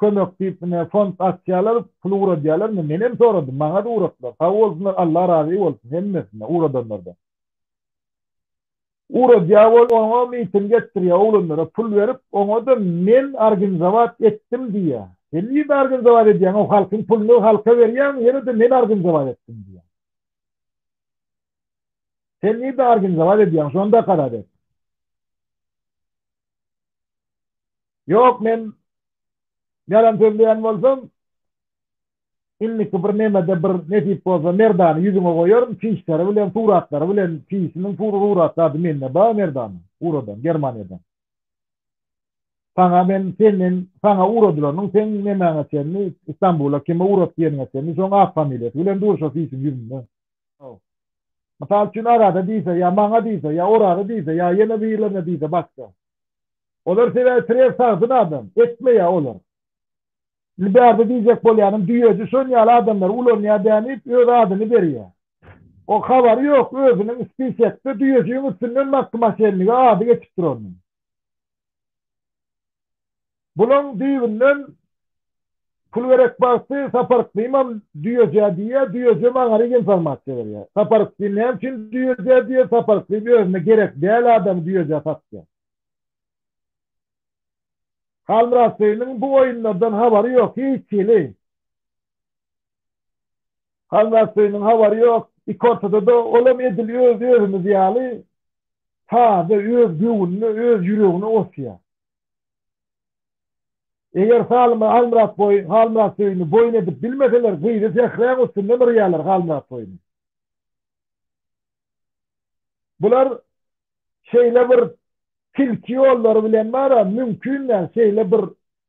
kömek diýip ine fond açýarlar, pul ugradýarlar. Indi menem soradym, maňa-da ugratdylar. Sag bolsunlar, Allah razy bolsun hemmesine ugradanlardan. Ura dýabol oňa miting etdirýä oglanlara pul berip oňada men arginzowat etdim diýýä sen nirde arginzowat edýäň o halkyň puluny halka berýäňmi ýenede men arginzowat etdim diýýäň sen nirde arginzowat edýäň şonda karar et. Ýok men ýalan sözleýän bolsam Indiki bir nemede bir nesip bolsa Merdany ýüzüňe goýaryn çişleri bilen suratlary bilen çişiniň suraty ady mende bar Merdanyň uradan Germaniýadan saňa men senden saňa uradylarynyň seň nemäňe çenli Istanbula kime urat diýeniňe çenli şoň at familiýasy bilen dur şo çişiň ýüzünde Haw. Mysal üçin Arada diýse ýa maňa diýse ýa Oraza diýse ýa ýene birlerine diýse başga. Olar sebäbi stres sagdyn adam. Etmeýä olar. Indi bärde diýjek bolýanym, düýeji şon ýaly adamlary ulanýar däni diýip öz adyny berýär. O habary ýok, özüniň spisekde düýejigiň üstünden Makky Maşenniga ady geçip duranyny. Bulaň düýbünden pul gerek bagty Saparykdymam düýejä diýýär, düýejem aňaryk informasiýa berýär. Saparykdym näme üçin düýejä diýýär, Saparykdym özüne gerek däl adamy düýejä satýar. Halmyratbeginiň bu oýunlardan habary ýok, hiç hili. Halmyratbeginiň habary ýok, iki ortada-da, olam edil özi özümiz ýaly taze, öz göwnüne, öz ýüregine otyýar. Eger Halmyratbegini boýun edip bilmeseler, gyzy sähräň üstünden yrýarlar Halmyratbegini. Bular şeýle bir tilki ýollary bilen bar-a, mümkin däl, şeýle bir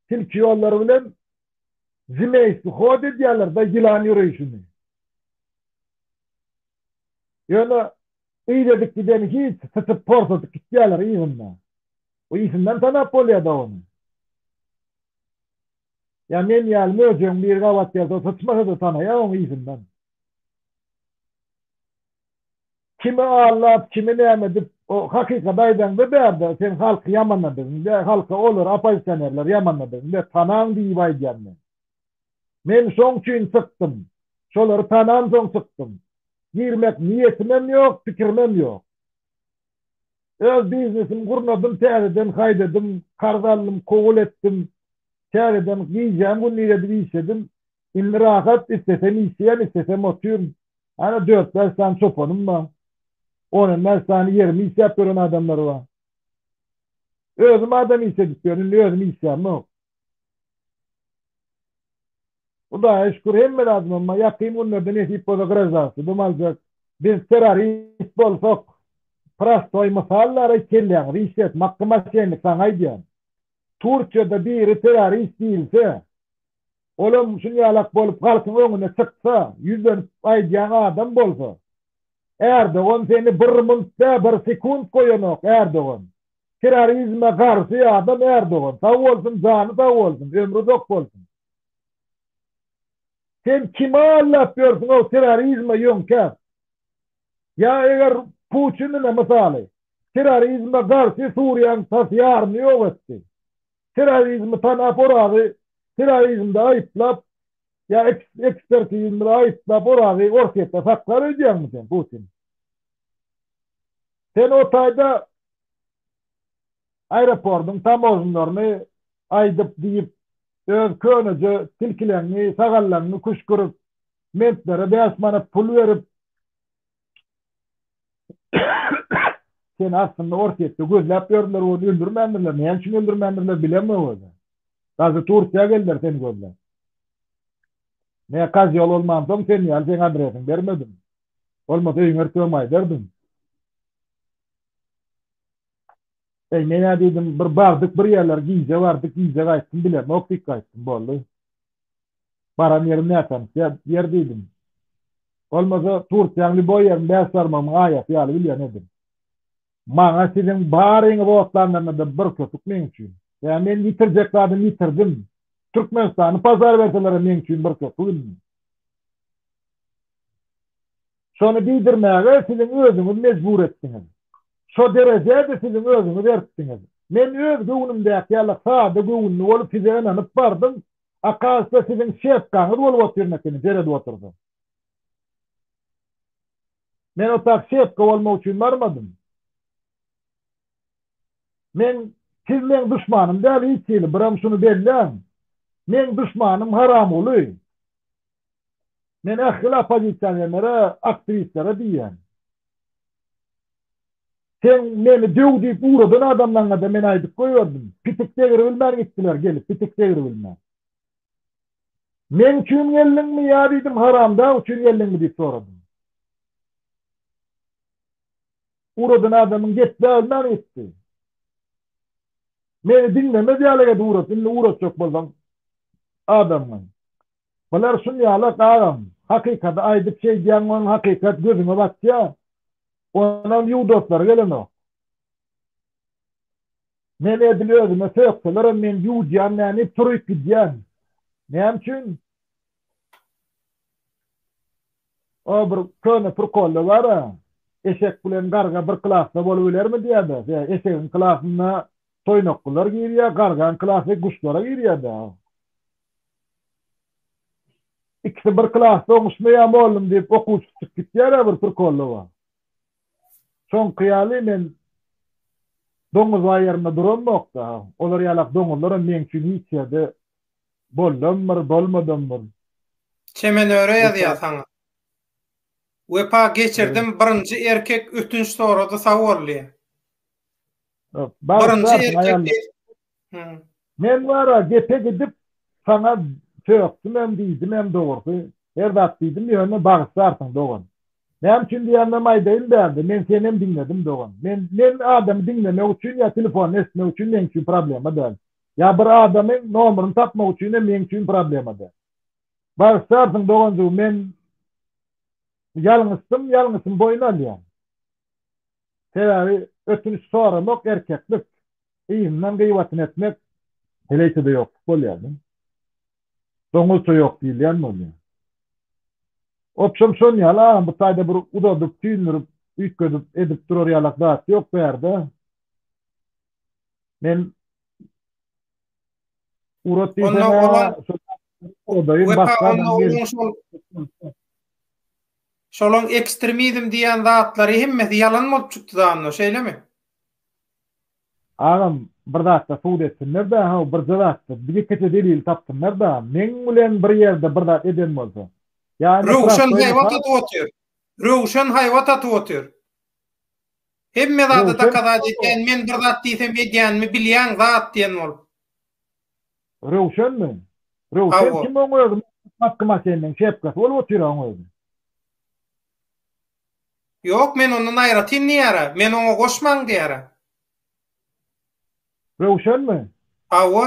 tilki ýollary bilen zmeýski hod edýärler-de, ýylan ýöreýşini. Ýöne yz edip gideni hiç, syçyp porsadyp gitýärler yzynda. Ysyndan tanap bolýar-da ony. Ýa men ýaly möjegiň biri gabat gelse syçmasa-da tanaýar oň yzyndan. Kimi aldap, kimi näme edip, o hakykaty aýdaňda bärde sen halky ýamanladygyň dä, halka olar oppozisionerleri ýamanladygyň dä, tanaň diýip aýdýan men. Men şoň üçin çykdym. Şolary tanansoň çykdym. Girmek niýetimem ýok, pikirimem ýok. Öz biznesimi gurnadym, täzeden haýdadym, karz aldym, kowul etdim, täzeden gijäm gündizedip işledim. Indi rahat, islesem işýän, islesem otyryn. Hany dört-bäş sany çopanym bar. On on bäş sany ýerimi işläp ýören adamlar bar. Özüm adam iş edip ýörün, indi özüm işlänok. Hudaýa şükür, hemme zadymam bar. Ýakyn günlerde nesip bolsa graždanstwodam aljak. Biz terrorist bolsak, prostoý mysal bäraý, kelläňizi işlet, Makky Maşennik, saňa aýdýan. Turkiýada biri terrorist diýilse, Olam şunýalak bolup halkyň öňüne çyksa, ýüzlenip aýdýan adam bolsa. Erdogan seni bir munt dä bir sekunt goýanok Erdogan. Terrorizme garşy adam Erdogan. Sag bolsun jany sag bolsun ömri uzak bolsun. Sen kimi aldap ýörsüňow terrorizme ýöňkäp. Ýa eger Puçinine mysaly. Terrorizme garşy Suriýaň tas ýaryny ýok etdi. Terrorizmi tanap Orazy terrorizmde aýyplap ýa ekspertizmde aýyplap Orazy Orsýetde saklar öýdýäňmi sen Putin? Sen o taýda aeropordyň tamožnlaryny aýdyp diýip öz köneje tilkileňňi sagallaňňy küşgürip mentlere bäş manat pul berip Sen aslynda Orsýetde gözläp ýördüler ony öldürmändirler näme üçin öldürmändirler bilemok özem. Daşy Turkiýa geldiler seni gözläp. Mä kazyol bolmansoň sen ýaly seň adresiň bermedim. Bolmasa öýüňe ertirem aýdardym. Eý, men-ä diýdim, bir bardyk bir ýerler, gije bardyk, gije gaýtdym, bilemok diýip gaýtdym, boldy. Baran ýerim nätanyş ýer diýdim. Bolmasa, Turkiýanyň lýuboý ýerini bäş barmagymyň aýasy ýaly bilýän edim. Maňa siziň baryňyzy otlandyryňyz-da bir köpük meň üçin. Ýa men ýitirjek zadymy ýitirdim. Türkmenistany pažar berseler-ä meň üçin bir köpük indi. Şony diýdirmäge siziň özüňiz mejbur etdiňiz. Şo derejä-de siziň özüňiz eritdiňiz. Men öz göwnümdäki ýaly sada göwünli bolup size ynanyp bardym, a kaşda siziň şepkaňyz bolup otyrmekeni seredip oturdym. Men otag şepka bolmak üçin barmadym. Men, siz meň duşmanym däl hiç hili, biram şuny belläň. Meň duşmanym Haramguly. Men ähli oppozisionerlere, aktiwistlere diýýän. Sen meni döw diýip ugradan adamlaryňada men aýdyp goýberdim. Pitik degribilmän gitdiler gelip, pitik degribilmän. Meň üçin geldiňmi ýa diýdim haramdag üçin geldiňmi diýip soradym. Ugradan adamyň gepläbilmän gitdi. Meni diňlemez ýaly edip ugrat, indi ugratjak bolsaň adamyňy. Bular şul ýala kagam. Hakykady aýdyp şeýdýäň wan hakykat gözüňe batýa. Onam ýuwdaslary gelenok. Men edil özüme sökselerem men ýuwdýan näni turyp gidýän. Näme üçin? O bir köne prkolda bara, eşek bilen garga bir klasda bolup bilermi diýäda. Ýa eşegiň klasyna toýnaklylar girýä, gargaň klasy guşlara girýäda. Ikisi bir klasda oňuşmaýar mollum diýip okuwçy çykyp gitýärä bir prikollaba. Şoňky ýaly men doňuzbaý ýerinde duramok-da. Olar ýalak doňuzlaram meň üçin hiç ýerde bollamdyr, bolmadamdyr. Çemenöre ýazýar saňa. Wepa geçirdim birinji erkek ötünç sorady sag bol diýe. Birinji erkek Men wara gepe gidip saňa çökdümem diýdimem dogrusy her zat diýdim ýöne bagyşlarsyň dogan. Näme üçin diýemem aýdaýyn bärde men senem diňledim dogan. Men men adamy diňlemek üçin ýa telefony eşitmek üçin meň üçin problema däl. Ýa bir adamyň nomeryny tapmak üçinem meň üçin problema däl. Bagyşlarsyň doganjygym men ýalňyşdym ýalňyşym boýun alýan. Sebäbi ötünç soramak erkeklik, yzyndan gyýbatyny etmek heleýçede ýokluk bolýar da. Doňuzça ýok diýilýän bolýar. Obşem şon ýaly agam bu taýda bir uzadyp, süýndürip, üýtgedip edip durar ýalak zat ýok bärde. Men Urat diýsene. Onda ola. Wepa onda ola şol. Şolaň ekstremizm diýen zatlary hemmesi ýalan bolup çykdy da onda, şeýlemi? Agam, bir zatda subut etsinler da, haw birje zatda, ýekeje delil tapsynlar da, meň bilen bir ýerde bir zat eden bolsa. Ýa indi. Röwşen haýbat atyp otyr. Röwşen haýbat atyp otyr. Hemme zada dokazat etýän, men bir zat diýsem edýänimi bilýän zat diýen bolup. Röwşenmi? Röwşen kim oň özi Macky Masenniň kepkasy bolup otyr oň özi. Ýok men ondan aýratyn diýýära, men oňa goşmaň diýýära. Röwşenmi? Hawa.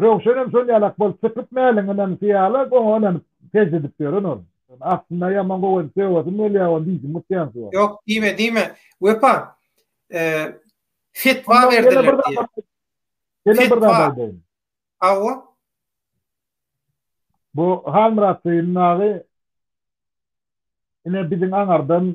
Röwşenem şol ýalak bolup çykyp mäliňinem şu ýalak oňa ynanyp sežde edip ýören ol. Aslynda ýaman gowy edip söwesim gelýä ony diýjim utýan şu wagt. Ýok diýme diýme Wepa fetwa berdiler diýe. Ýene bir zat aýdaýyn. Hawa. Bu Halmyrat Seýim dagy ine biziň aňardan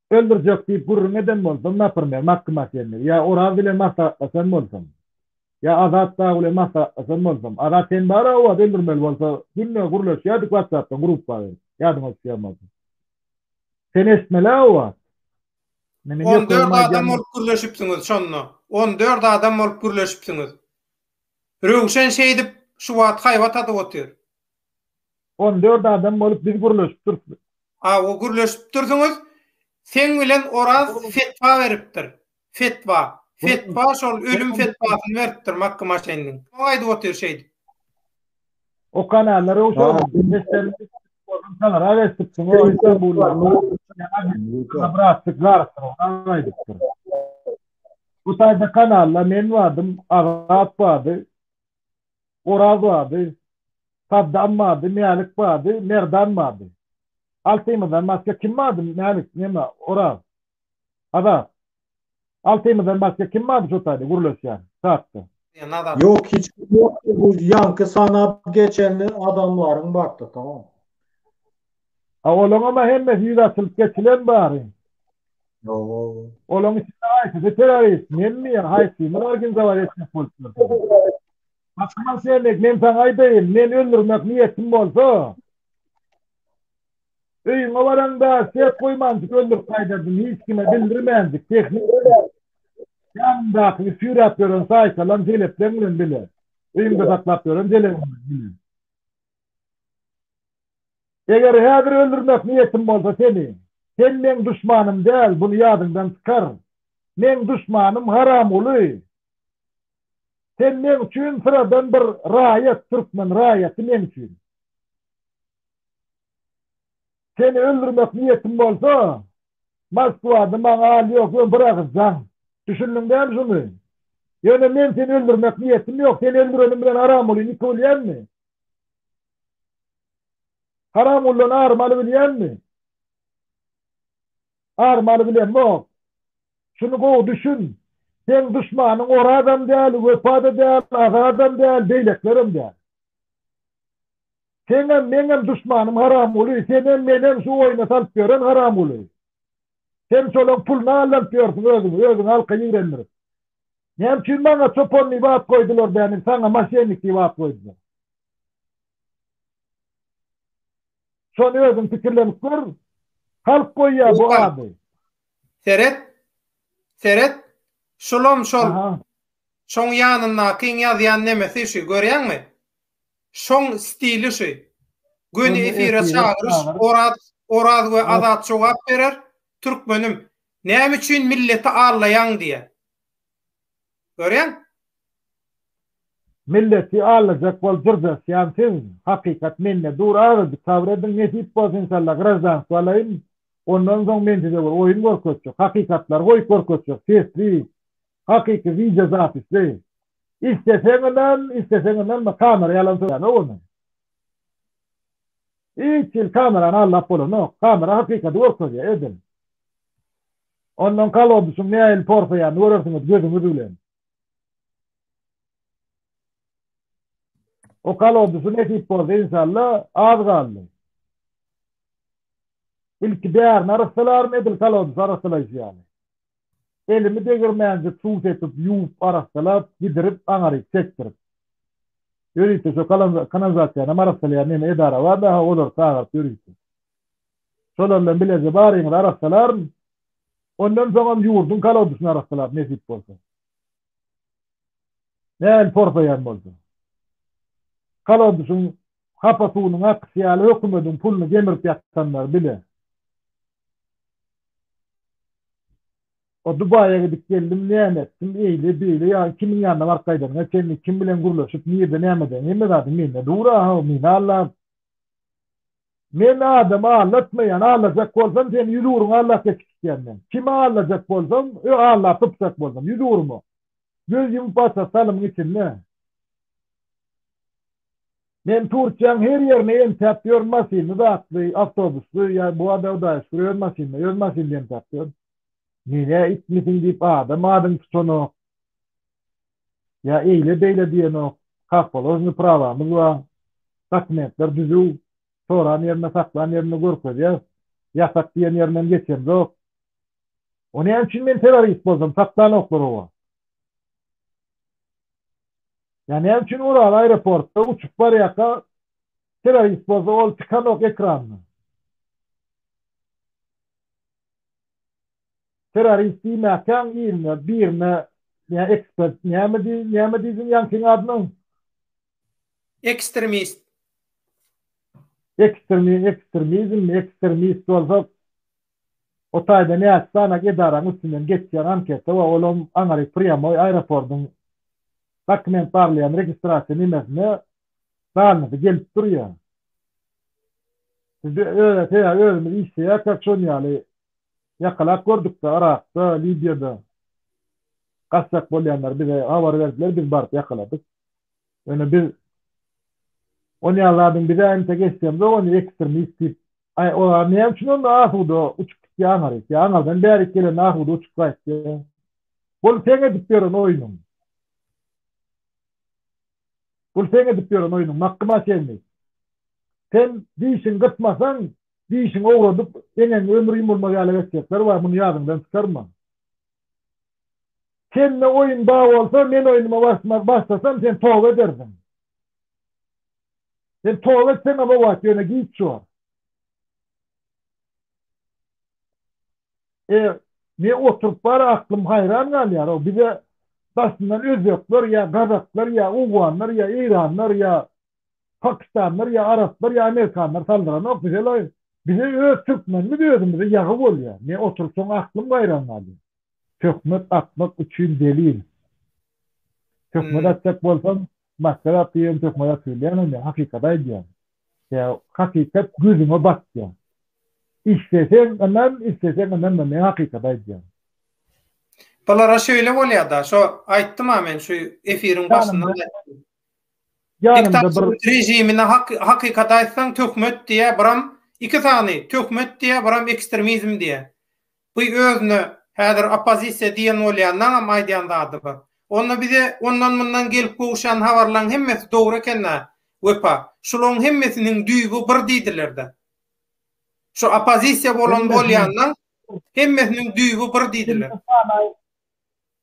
Öldürjek diýip gürrüň eden bolsam, napirmer, Makgym Akenni, ýa Oraz bilen maslahatlaşan bolsam, ýa Azat dagy bilen maslahatlaşan bolsam, Azat sen bar-a Owaz öldürmeli bolsa, günde gürleşýärdik watsapdan gruppa berip, ýadyňa düşýän bolsa. Sen eşitmeli-ä Owaz. Meniň ýokumyň aýdýanyny. On dört adam bolup gürleşipsiňiz şonda. On dört adam bolup gürleşipsiňiz. Röwşen şeýdip şu wagt haýbat atyp otyr. On dört adam bolup biz gürleşip durupdyr. Awa gürleşip dursuňyz. Seň bilen Oraz fetwa beripdir. Fetwa. Fetwa şol ölüm fetwasyny beripdir Makky Maşenniň. Şoňa aýdyp otyr şeýdip. O kanallar öwşerin. Seslerini eşidip çagyrak eşitipsiň o Istanbulda. Bratlyk garypdyr aýdypdyr. Bu taýda kanalda men bardym, Azat bardy. Oraz bardy. Saddam bardy, Mälik bardy, Merdan bardy. Altymyzdan başga kim bardy, Mälik, neme, Oraz, Azat? Altymyzdan başga kim bardy şo taýda gürleşýän, çatda? Ýok, hiç kim ýokdy, bu ýaňky sanap geçen adamlaryň bardy, tamam. A olaňam-a hemmesi ýüzi açylyp geçilen bary? Ýo-o-o. Olaň içinde haýsysy terrorist, menmi ýa haýsymyz organizowat etjek bolup ýörüs? Akmal Semek, men saňa aýdaýyn, meni öldürmek niýetiň bolsa, öýüňe baraňda ses goýmanjyk öldürip gaýdardym, hiç kime bildirmänjik, tehnik bilen. Ýanyňdaky süýräp ýören saýkalam jelepleň bilen bile, öýüňde saklap ýören jelebiň bilen bile. Eger häzir öldürmek niýetiň bolsa seni, sen meň duşmanym däl, buny ýadyňdan çykar. Meň duşmanym Haramguly. Sen meň üçin syradan bir raýat, türkmen raýaty meň üçin. Seni öldürmek niýetim bolsa, Moskwada maňa al ýok, ýöne bir agyz jaň. Düşündiň däl şuny? Ýöne men seni öldürmek niýetim ýok, seni öldürenim bilen Haramguly niki bilýänmi? Haramguldan arym alybilýänmi? armaly bilemok. Şuny gowy düşün, seň duşmanyň Orazam däl, Wepa-da däl, Azadam däl, beýlekilerem däl. Seňem, meňem duşmanym Haramguly, senem, menem şu oýna salyp ýören Haramguly. Sen şolaň puluny aldanyp ýörsüň özüňi, özüňi halka ýigrendirip. Näme üçin maňa çopan diýip at goýdular dänim, saňa moşennik diýip at goýdular. Şony özüň pikirlenip gör. Halk goýýar bu ady. Seret. Seret. Şulam şol. Şoň ýanyndakyň ýazýan nemesi şu, görýäňmi? Şoň stili şu. Göni efire çagyryş, Oraz, Oraz we Azat jogap berer, Türkmenim, näme üçin milleti allaýaň diýer. Görýäň? Milleti aldajak bolup jyrjaşýan siz, hakykat mende dur azajyk sabr ediň nesip bolsa inşallah graždanstwo alaýyn ondan soň men size bir oýun görkezjek hakykatlary goýup görkezjek sesli hakyky wideo zapisli isleseň ynan isleseň ynanma kamera ýalan sözläme ony hiç hili kamerany aldap bolanok kamera hakykady görkezýär edil Ondan kalodysyň nähili porsaýanyny görersiňiz gözüňiz bilen. O kalodysy nesip bolsa inşalla az galdy. Ilki bärini arassalaaryn edil kalodysy arassalaýşy ýaly. Elimi degirmänjik suw sepip ýuwup arassalap gidirip aňaryk çekdirip. Ýörite şo kanalizasiýanam arassalaýan neme edara bar daha olary çagyryp ýörite. Şolar bilen bileje baryňyz arassalaryn. Ondan soňam ýurduň kolodesini arassalaryn nesip bolsa. Näl porsaýan bolsa. Kolodesiň hapa suwunyň akysy ýaly hökümediň puluny gemirip ýatanlar bile. O Dubaýa gidip geldim, näme etdim, eýle, beýle, ýa kimiň ýanyna baryp gaýdanyňa çenli, kim bilen gürleşip, nirde näme eden, hemme zadyň mende dur-a, hawa, meni aldap. Men adamy aldatmaýan, aldajak bolsam seni ýüz ugruna aldatjak kiçikýän men. Kimi aldajak bolsam, ö aldap gypjak bolsam, ýüz ugruma. Göz ýumup açjak salymyň içinde. Men Turkiýäň her ýerine entäp ýörün maşynly zatly, awtobusly, ýa bu ada hudaýa şükür öz maşynly, öz maşynly entäp ýörün. Menä itmisiň diýip adam adyňy tutanok. ýa eýle-beýle diýenok, kak položny prawamyz bar, dokumentler düzüw, soran ýerinde, saklan ýerinde görkezýäs, ýasak diýen ýerindenem geçemzok. O näme üçin men terrorist bolsam, saklanoklar oba? Ýa näme üçin Ural aeroportda uçup barýarka terrorist bolsa ol çykanok ekranda? terrorist diýmäkäň iline birine näme ekspert näme diý näme diýdiň ýaňkyň adyna? Ekstremist. Ekstremi ekstremizmmi ekstremist bolsa o taýda näçe sany edaraň üstünden geçýän anketa we olam aňry prýamoý aeropordyň dokument barlaýan registrasiýa nemesine zalynada gelip durýa. Biz özä sebäbi özümiz işleýäkä şon ýaly Ýakalap gördükde Yrakda, Libiýada gaçjak bolýanlary bize habar berdiler, biz baryp ýakaladyk. Ýöne biz ony ýaly zadyň bize entek eşidemzok ony ekstremist diýip. Aý olar näme üçin onda asuda uçup gitýä aňaryk ýa aňardan bärik gelende asuda uçup gaýtýa. Bul seň edip ýören oýnuň. Bul seň edip ýören oýnuň Makgymma çenli. Sen dişiň gysmasaň, dişiň owradyp, eňegiň ömri ýumulmaz ýala geçjekler bar, muny ýadyňdan çykarma. Çenli oýun ba bolsa, men oýnuma barşma başlasam, sen toba edersiň. Sen toba etseň-ä bobat, ýöne giç bor. E, men oturyp bar aklym haýran galýar-ow, bize daşyndan özbekler ýa gazaklar ýa owganlar ýa eýranlar ýa pakistanlar ýa araplar ýa amerikanlar saldyranok bizelaýyn. Bize öz türkmenimiz özümize ýagy bolýar. Men oturyp şoňa aklym gaýran galýar. Töhmet atmak üçin delil. Töhmet atjak bolsaň, Maska zat diýen tökme zat söýleýäňmi men hakykaty aýdýan. Ýa hakykat gözüňe batýa. Isleseň ynan isleseň ynanma men hakykaty aýdýan. Bulara şöyle bolýada şo aýtdym-a men şu efiriň başynda aýtdym. Ýanymda bir rejimine hakykaty aýtsaň töhmet diýä biram iki sany töhmet diýä biram ekstremizm diýä. Bu özüne häzir oppozisiýa diýen bolýanlaňam aýdýan zady bar. Onda bize ondan-mundan gelip gowuşýan habarlaň hemmesi dogry eken-dä, Wepa. Şulaň hemmesiniň düýbi bir diýdiler-dä. Şu oppozisiýa bolan bolýanlaň hemmesiniň düýbi bir diýdiler.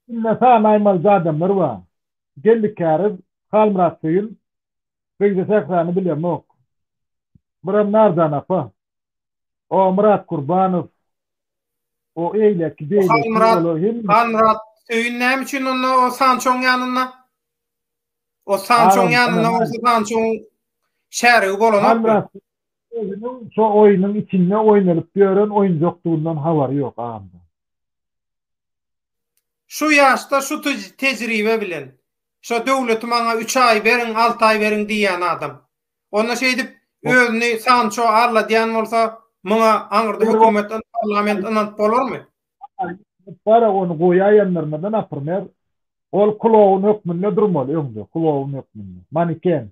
Indi sany aýmalyja adamlar bar. Geldi Käriz, Halmyrat Söýün, Begje Sährany bilemok. Biram Narjan apa. O Myrat Kurbanow o eýleki beýleki olar hem Halmyrat Söýün näme üçin onda o Sançoň ýanynda? O Sançoň ýanynda o Sançoň şärigi bolanok. Halmyrat özüniň şu oýnuň içinde oýnalyp ýören oýunjakdygyndan habary ýok agam. Şu ýaşda şu tejribe bilen. Şo döwleti maňa üç aý beriň alty aý beriň diýýän adam. Onda şeýdip özüni Sanço alladýan bolsa, muňa aňyrda hökümet, parlament ynanyp bolarmy? Bara ony goýaýanlarymyzdan apyrmer. Ol kloun hökmünde durmaly öňde, kloun hökmünde, maniken.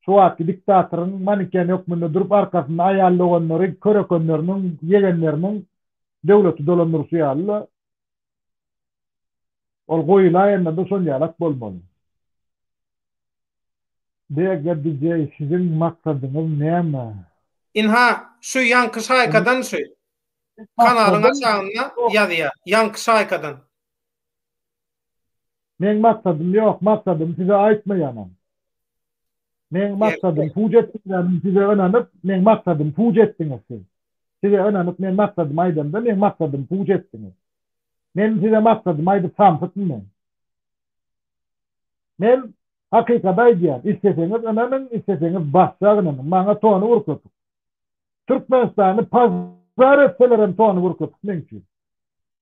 Şu wagtky diktatoryň maniken hökmünde durup arkasynda aýal doganlary, körekenleriniň, ýegenleriniň döwleti dolandyryşy ýaly-la. Ol goýulaýanda-da şol ýalak bolmaly. BG DJ siziň maksadyňyz näme? Ynha, şu ýaňky şaýkadan şu. Kanalyň aşagynda ýazýar, ýaňky şaýkadan. Meň maksadym ýok, maksadymy size aýtmaýanam. Meň maksadym puç etdiňizmi? Size ynanyp, meň maksadym puç etdiňiz siz. Size ynanyp, men maksadymy aýdamda, meň maksadymy puç etdiňiz. Men size maksadymy aýdyp samsytmy men? Men hakykady aýdýan, isleseňiz ynanyň, isleseňiz basja ynanyň, maňa tony bir köpük. Türkmenistany pazar etselerem tony bir köpük meň üçin.